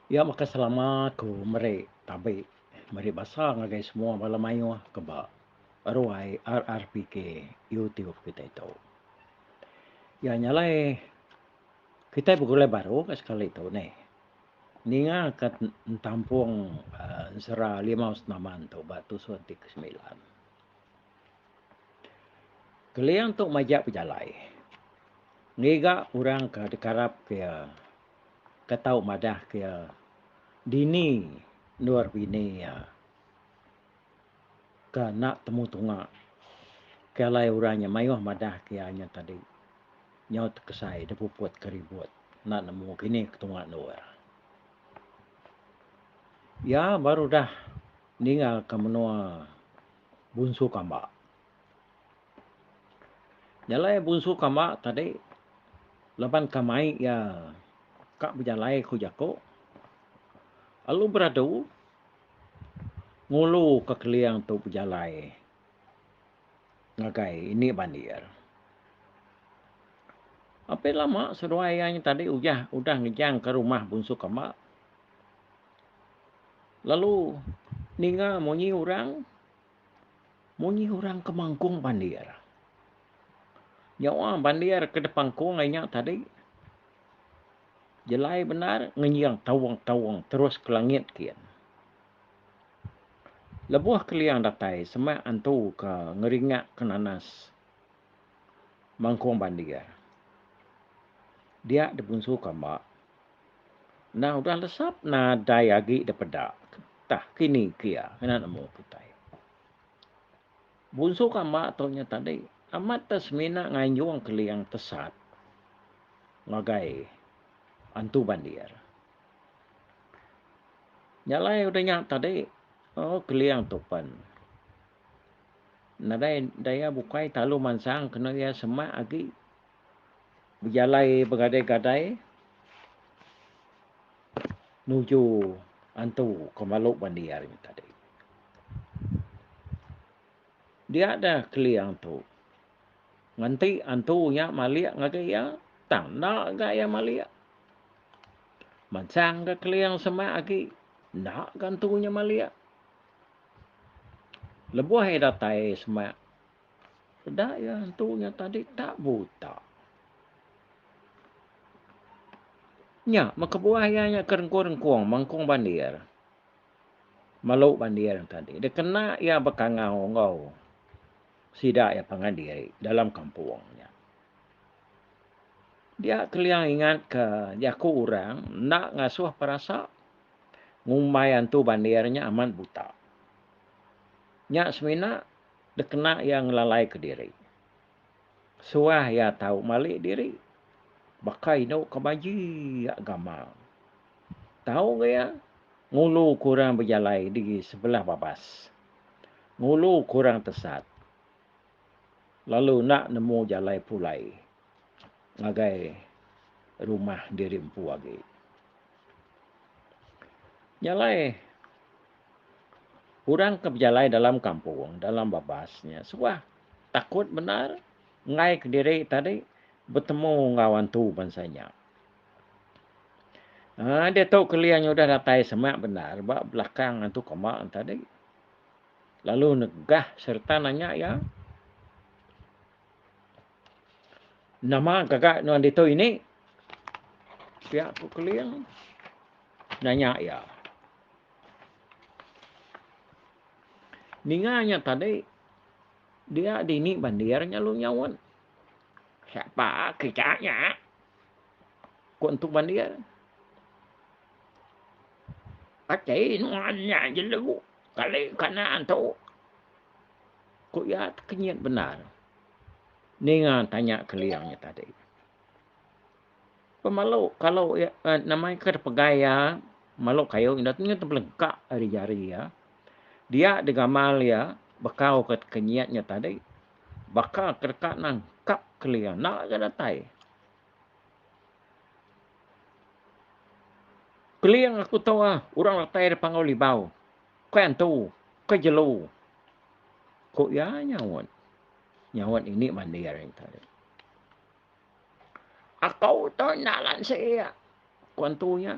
Iya makai selama aku meri tabi meri basa ngagai semua bala mayuh ke ba ruai RRPK YouTube kitai tu. Iya nya alai kitai begulai baru ka sekali tu nih. Ninga ka entampung aaa ensera limau senaman tu ba tusun ti ke semilan. Keling tu majak pejalai ngiga orang ke dikarap ke iya. ka tau madah ke iya dini endur bini iya ka enda temu tunga ke alai orang nya maioh madah ke iya nya tadi nyau tekesai da puput ke ribut enda nemu ke ini ke tunga endur. Iya baru udah ninga ke menua bunsu kamba. Jalai bunsu kamba tadi laban ka mai iya ka bejalai ku jaku lalu beradu ngulu ka keling tu bejalai ngagai indi bandir. Apin lama seduai iya nya tadi uyah udah ngejang ka rumah bunsu kamba lalu ninga munyi orang Munyi orang ke mangkung bandir. Nyawa bandir ke dipangkung ai nya tadi. Jelai bendar ngenyiang taung-taung terus ke langit kin. Lebuh ke liang datai semak antu ke ngeringak ke nanas mangkung bandir. Dia dibunsu kamba Nah udah lesap nadai agi depeda tah kini kia ngena nemu kitai. Bunsu kamba tu nya tadi amat te semina nganjung keling tesat ngagai antu bandir. Nya alai udah nya tadi oh keling tu pen nadai daya bukai talu mansang kena iya semak agi. Bejalai begadai-gadai nuju antu ke malu mandi hari nya tadi. Dia deh keli antu. Nganti antu nya malik ngagai iya, tang enda ga iya malik. Mansang ga keling semak agi, enda ga antu nya malik. Lebuh iya datai semak, Peda iya entu nya tadi tak buta. Nya meh kebuah iya nya ke rengkung-rengkung mengkung bandir. Melu bandir tadi dikena iya bekangau enggau sida iya pangan diri dalam kampung nya. Dia Keliang ingatka jaku orang enda ngasuh perasa ngumbai antu bandir nya amat buta. Nya semina Dikena iya ngelalaika diri. Suah iya tau malik diri. Baka inu ke maji iya gamal. Tau ga iya, ngulu ke orang bejalai di sebelah babas. Ngulu ke orang tesat. Lalu enda nemu jalai pulai. ngagai rumah diri empu agi. Nya alai orang ke bejalai dalam kampung, dalam babas nya suah takut bendar enggai kediri tadi betemu enggau hantu bansa nya. Haa ditu Keling udah datai semak bendar ba belakang hantu kamba tadi lalu negah sereta nanya iya. Nama gaga nuan ditu ini? Pia Pu Keling nanya iya. Ninga nya tadi dia dini bandir nya lu nyaut. Siapa kita nya? Ku entu bandir. Ati nuan nya jelu kali kanan tu. Ku iya tekenyit bendar ninga tanya Keling nya tadi. Pemalu kalu iya eh, nama iya kada pegai iya malu kayu enda nya tebelengkak ari jari iya. Dia digamal iya bekau ke tekenyit nya tadi. Baka ke deka nangkap Keling enda ga datai. Keling aku tu ah, orang datai dipangau libau. Ke antu, ke jelu, ku iya nyaut. Nyaut ini mandir nya tadi. Aku tu enda lansik, ku antu nya.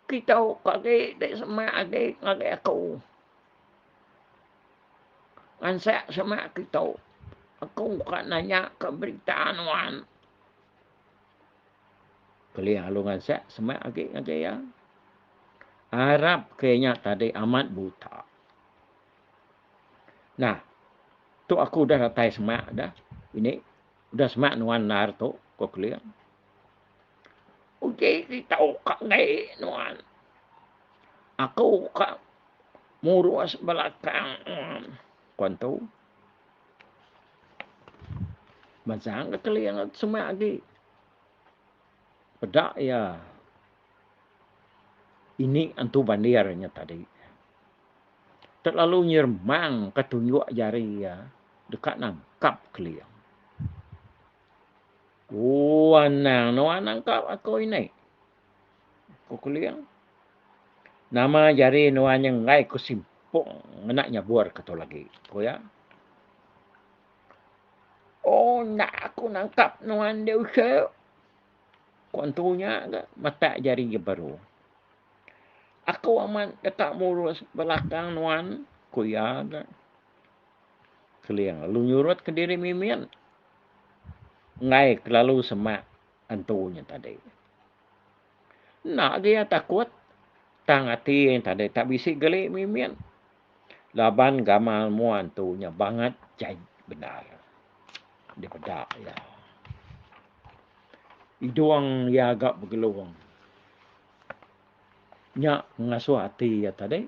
Kitu ke agi ti semak agi ngagai aku. Ngansek semak kitu. Aku ka nanya ke berita nuan. Kelih alu ngansik semak agi ngagai iya. Arap ke inya tadi amat buta. Nah, tu aku udah datai semak dah. Ini udah semak nuan endar tu, ko Kelih. Uji ti tau ka ngai nuan. Aku ka murus belakang nuan, ko entu. Mansang ke keling ke semak agi. Peda ya. Ini antu bandir nya tadi. Terlalu nyermang ke tunjuk jari ya. Dekat nangkap keling. Oh, anang. No anang kap aku ini. Ku Kuling, nama jari nuan nya enggai ku simpung ngena nyabur ke tu lagi, ku iya. Oh, enda aku nangkap nuan deh usik, ku antu nya ga matak jari iya baru. Aku amat deka murus belakang nuan, ku iya ga. Kuling lalu nyurut ke diri mimin enggai kelalu semak. entu nya tadi. Enda agi iya takut tang ati iya tadi tak bisi geli mimit laban gamal mua entu nya bangat jai bendar dipeda iya. Idung iya ga begelung nya ngasuh ati iya tadi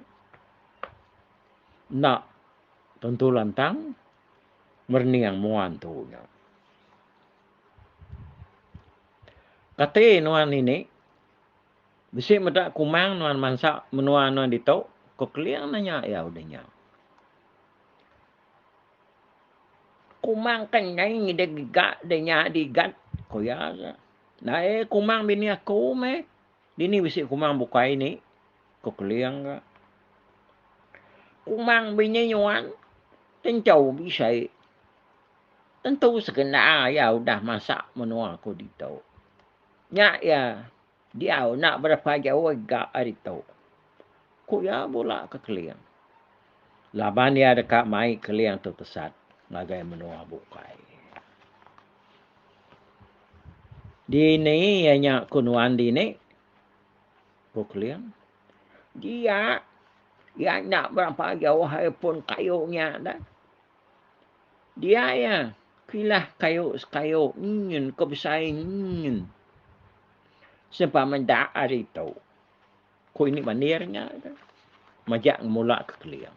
enda tentu lantang merening mua entu nya. Kati nuan ini? Bisi meda kumang nuan mansa menua nuan ditu? Ko Keling nanya iya udah nya. Kumang ke nai ngidih giga deh nya digat? Ko iya aja. Nae kumang bini aku meh. Dini bisi kumang bukai ini? Ko Keling ga. Kumang bini nuan tentu bisai. Tentu sekena iya udah masak menua aku ditu. Nya iya diau enda berapa jauh ga ari tu, ku iya bula ke Keling. Laban iya deka mai Keling tu tesat ngagai menua bukai. Dini iya nya ku nuan dini? ku Keling. Dia, iya enda berapa jauh ari pun kayu nya dah. Dia iya, kilah kayu sekayu nyin ke besai nyin. Sempa meda ari tu. Ku ini manir nya tu. Majak ngemula ke keling.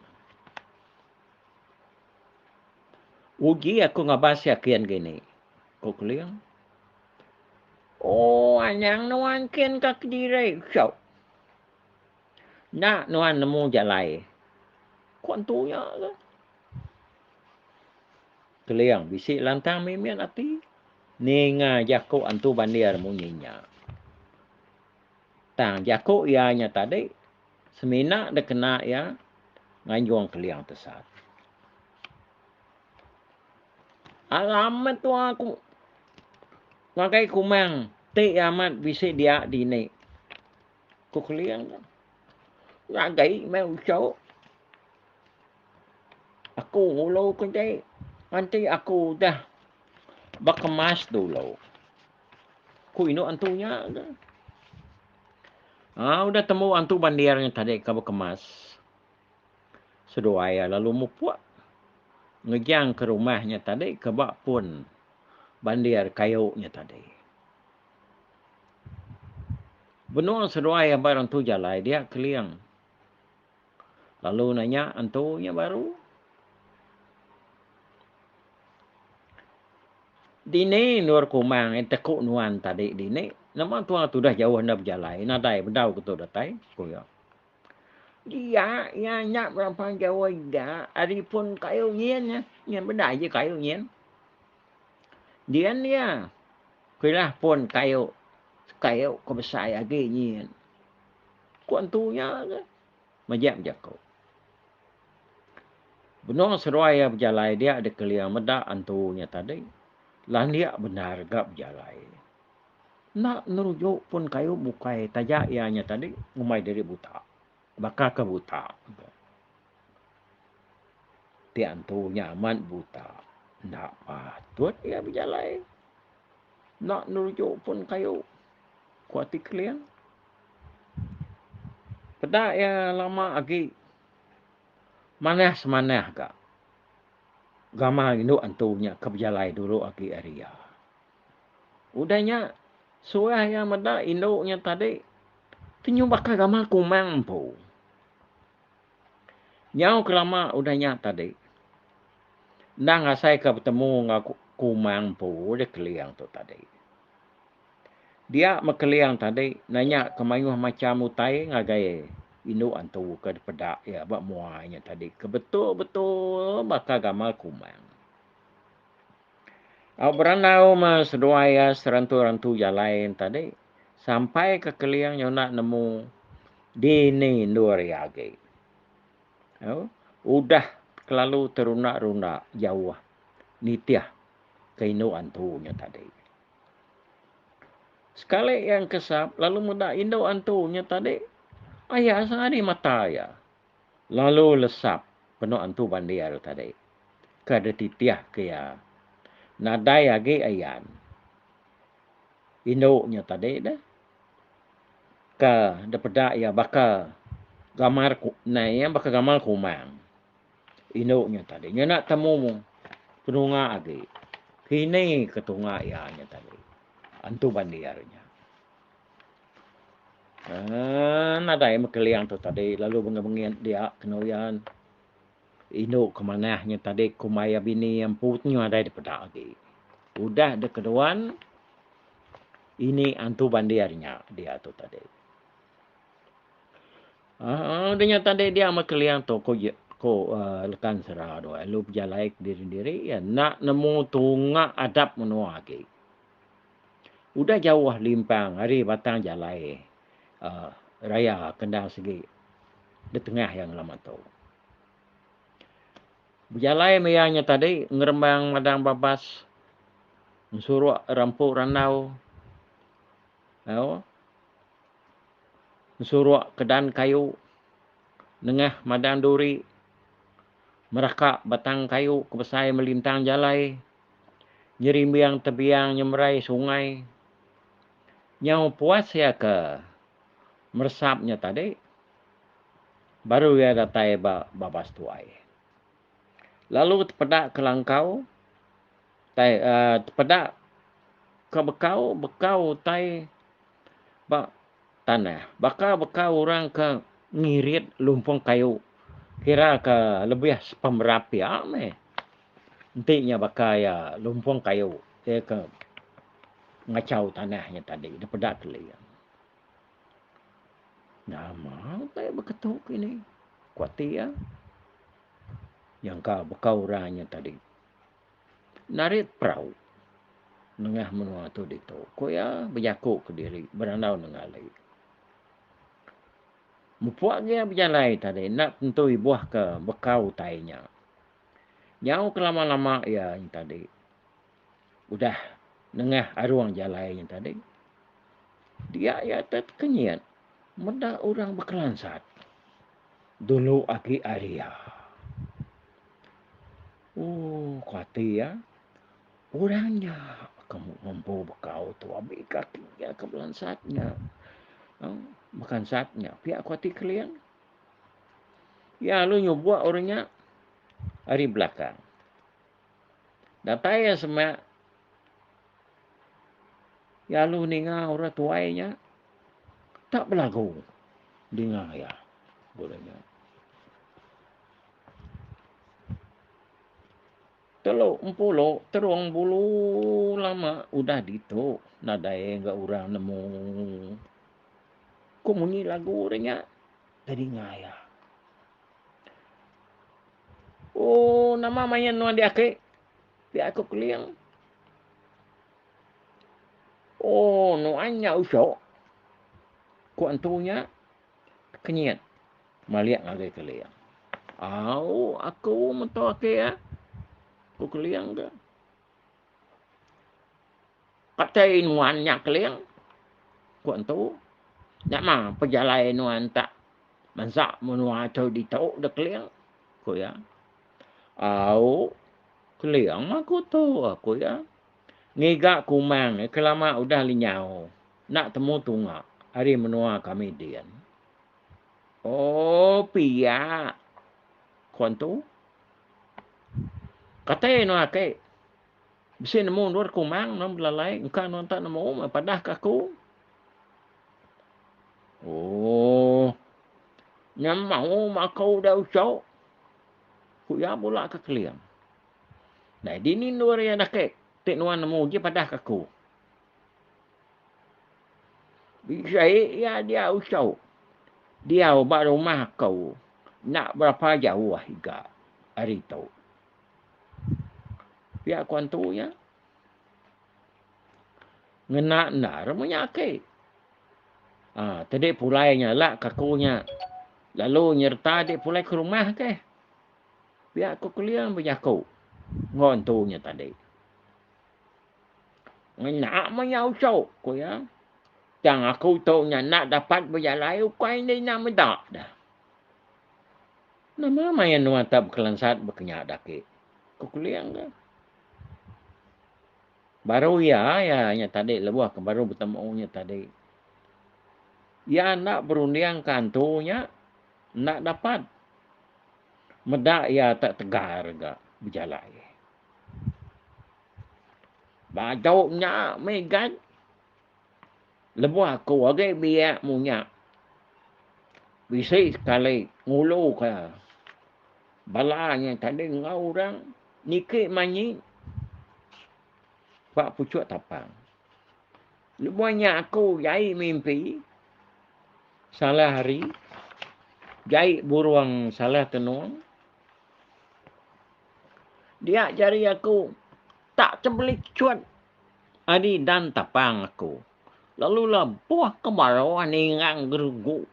Uji aku ngabar sia kin ke ini. Ku keling. Oh, anang nuan kin ka kediri. Syok. Enda nuan nemu jalai. Ko entu nya ke. Keling bisi lantang mimit ati. Ninga jaku entu bandir munyi nya. Tang jaku iya nya tadi semina dikena iya nganjung keling tesat. Alamat tua aku ngagai kumang ti amat bisi dia dini. Ku Keling tu. Ngagai mai usau. Aku ulau ke jai. Nanti aku udah berkemas dulu. Ku indu antu nya ke. Ha, udah temu antu bandir nya tadi ke berkemas. Seduai lalu mupuk. Ngejang ke rumah nya tadi ke bak pun bandir kayu nya tadi. Benung seduai aba orang tu jalai dia Keling. Lalu nanya entu nya baru. Dini nur kumang yang teku nuan tadi dini. Nama tuan tu dah jauh anda berjalai. Nadai bedau ke tu datai. Kuya. Dia yang nak berapa jauh dia. Hari pun kayu nyin. Nyin benda je kayu nyin. Dian iya, pilah pun kayu kayu ke besai agi nyin. Ku entu nya ke mejek jaku. Benung seduai iya bejalai dia dikeling meda entu nya tadi. Landik bendar ga bejalai. Enda nerujuk pun kayu bukai taja iya nya tadi ngumbai diri buta. Baka ke buta. Ti antu nya amat buta. Enda patut iya bejalai. Enda neruju pun kayu, ku Ati Keling. Peda iya lama agi manah-semanah ga gamal indu antu nya ke bejalai dulu agi ari iya. Udah nya, suah iya meda indu nya tadi ti nyubaka gamal kumang empu. Nyau kelama udah nya tadi, endang asai ke betemu enggau Kumang empu deh Keling tu tadi. Dia meh Keling tadi nanya ke mayuh macham utai ngagai indu antu ke dipeda iya ba mua nya tadi ke betul-betul baka gamal Kumang. Au berandau meh seduai iya serantu-rantu jalai nya tadi, sampai ke keling nyuna nemu dini endur iya agi. Au, udah kelalu terunda-runda jauh nitih ke indu antu nya tadi. Sekali iya engkesap lalu meda indu antu nya tadi, aya sehari mata iya. lalu lesap penu Antu Bandir tadi ke dititihka iya nadai agi ayan indu nya tadi deh ke dipeda iya baka gamal nai iya baka gamal kumang indu nya tadi nyana temu penunga agi kini ke tunga iya nya tadi Antu Bandir nya. Aaa nadai meh keling tu tadi lalu bengit-bengit dia kenu yan indu ke manah nya tadi kumbai iya bini iya empu tu nyau nadai dipeda agi. Udah deh keduan ini antu bandir nya dia tu tadi. Aaa udah nya tadi dia meh keling tu ko je ko aaa lekan sera tu lalu bejalai kediri-diri iya enda nemu tunga adap menua agi. Udah jauh limpang ari batang jalai raya ke endang sigi ditengah iya ngelama tu. Bejalai meh iya nya tadi ngerembang madang babas ngesuruk rampu randau au ngesuruk kedan kayu nengah madang duri meraka batang kayu ke besai melintang jalai. nyerimbing tebiang nyemerai sungai. Nyau puas iya ke meresap nya tadi baru iya datai ba babas tuai. Lalu tepeda ke langkau tai uhh tepeda ke bekau, bekau utai ba tanah. Baka bekau orang ke ngirit lumpung kayu kira ke lebih sepemerap iya meh. Enti nya baka iya lumpung kayu iya ke ngachau tanah nya tadi dipeda keli iya. Nama utai iya beketu kini ku ati iya nyangka baka orang nya tadi narit perau nengah menua tu ditu ku iya bejaku kediri berandau nengah ali. Mupuk agi iya bejalai tadi enda tentu ibuh ka baka utai nya Nyau kelama-lama iya nya tadi udah nengah arung jalai nya tadi, dia iya te tekenyit meda orang bekelansat dulu agi ari iya. Oh, ku ati iya, orang nya ke ngempu bekau tu abi ke ati iya ke belansat nya. Bekansat nya pia ku ati Kelin. Iya alu nyubuk orang nya ari belakang. Datai iya semak, iya alu ninga orang tuai nya tak belagu dinga iya. Orang nya. Telu empulu terung bulu lama udah ditu nadai ga orang nemu. Ku munyi lagu ri nya da dinga iya. Ooh nama main nuan diaki? Pia aku keling. Ooh nuan nya usok. Ku antu nya. Kenyit malik ngagai Keling. Au, aku mentua ake ah. Ku Keling ke. Katai nuan nya Keling. Ku entu. Nya mah pejalai nuan tak mensa menua tu ditu dah Keling. Ku iya. Au, Keling mah aku tu. Ku iya. ngiga kumang ke lama udah lenyau enda temu tunga ari menua kami din. Oh pia ku antu. Katai anu ake bisi nemu endur kumang nang belalai engka anu enta nemu meh padah ke aku. Oh nyamau makau udah uso ku iya bula ke keling. Dai dini endur iya dakek ti nuan nemu uji padah ke aku. Bisai iya dia usau. Dia uba rumah aku. Nak berapa jauh ah iga hari tu. Pia ku antu iya. Ngena endar munya aki. Ha, ah, tadi pulai nya lak kaku nya. Lalu nyerta di pulai ke rumah ke. Pia aku Keling bejaku enggau entu nya tadi. Ngena meh nya usu, ku iya. Tang aku tu nya enda dapat bejalai ukai enda ina meda dah. Nama maya nuan tak bekelansat bekenya daki? ku Keling ke. Baru iya, iya nya tadi lebuh ke baru betemu nya tadi. Iya enda berundingka entu nya. Enda dapat. Meda iya tak tegar ga bejalai. Bajau nya meh gad. Lebuh aku agi biak munya. Bisi sekali ngulu ka bala nya tadi enggau orang niki manyi ba pucuk tapang. Lebuh nya aku jai mimpi, salah hari, jai burung salah tenung. Dia jari aku tak tebelichut ari dan tapang aku. Lalu labuh ke baruh ningang gerugu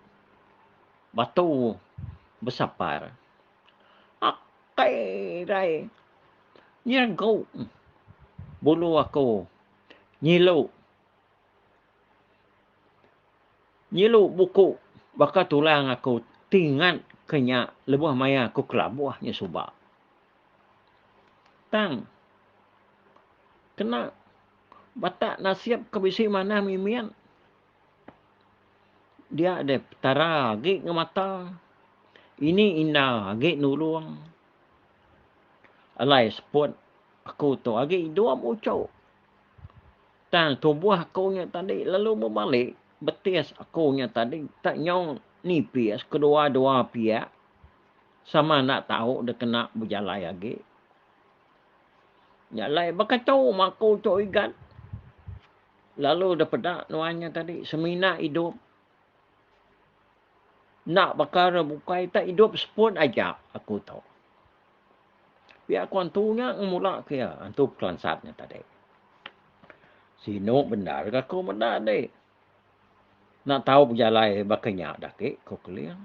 batu besapar. Akai rai nyeregu bulu aku Nyilu. Nyilu buku baka tulang aku ti ngat ke nya lebuh maya aku kelabuh nya suba. Tang kena bata nasib ke bisi manah mimit dia deh Petara agi ngemata, ini inda agi nulung. Alai seput aku tu agi dua muchu. Tang tubuh aku nya tadi lalu bebali betis aku nya tadi tak nyau nipis kedua-dua piak sama enda tau dikena bejalai agi. Nya alai beketu mah aku tu igat lalu dipeda nuan nya tadi semina idup. Enda pekara bukai tak idup seput aja aku tu. Pia ku antu nya ngemula ke iya, antu pekelansat nya tadi. Sinu bendar ke aku meda andi. Enda tau bejalai baka nya dah agi ku Keling.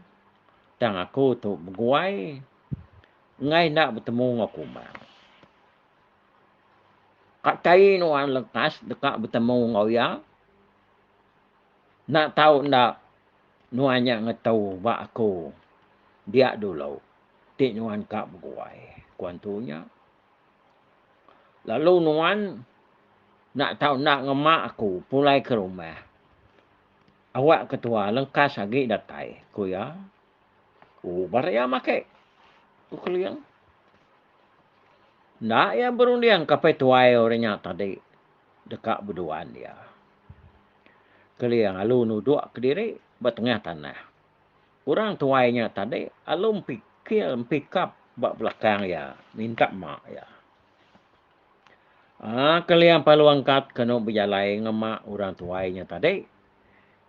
Tang aku tu beguai enggai enda betemu enggau Kumang. Ka kaie nuan lekas deka betemu enggau iya? Enda tau enda nuan nya ngetu ba aku dia dulu ti nuan ka beguai, ku antu nya. Lalu nuan enda tau enda ngema aku pulai ke rumah. Awak ketua lengkas agi datai, ku iya. Uber iya make, ku Keling. Enda iya berundingka petuai orang nya tadi. deka beduan iya. Keling alu nuduk kediri ba tengah tanah. Orang tuai nya tadi alu mpikir mpikap ba belakang iya minta mak iya. Aa Keling palu angkat kenu bejalai enggau mak orang tuai nya tadi.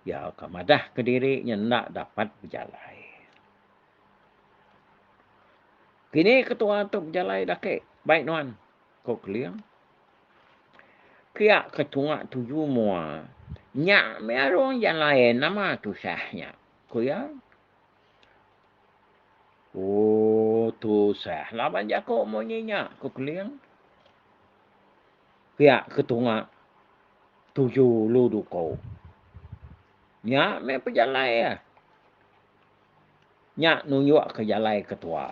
Iya ka madah kediri nya enda dapat bejalai. Kini ketua tu bejalai daki baik nuan? ko Keling. Pia ke tunga tuju mua. Nya mih arung jan lain nama tusah nya, ku iya. Oh, tusah laban jaku munyi nya, ku Keling. Pia ke tunga tuju lu duko. Nya mih pejalai iya. Nya nunjukka jalai ke tua.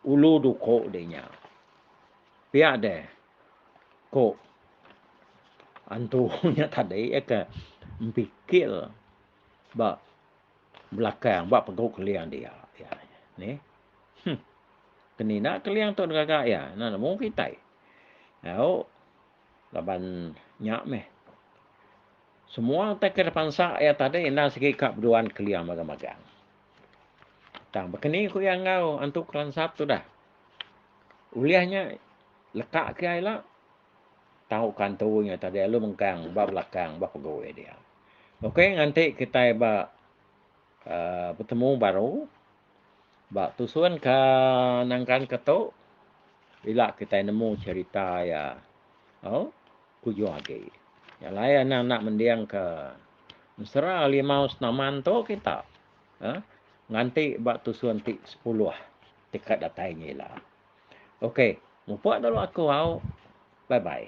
Ulu duko deh nya. Pia deh ko antu nya tadi iya ke mpikir ba belakang ba pegu keling dia iya neh. Huh kemina keling tu ngagai iya ina nemu kitai. Au laban nya meh. Semua utai ke dipansa iya tadi enda sigi ka beduan kelia magang-magang. Tang baka ni ku iya enggau Antu Kelansat tudah. Ulih nya leka ke iya ila, tau ka antu nya tadi alu mengkang ba belakang ba pegui dia. Okey nganti kitai ba. betemu baru ba tusun ke nengkan ke tu ila kitai nemu cerita iya au kujung agi. Nya alai anang enda mending ke mesra limau senaman tu kita aaa nganti ba tusun ti sepuluh ti ka datai nya ila. Ok mupok lalu aku au bye bye.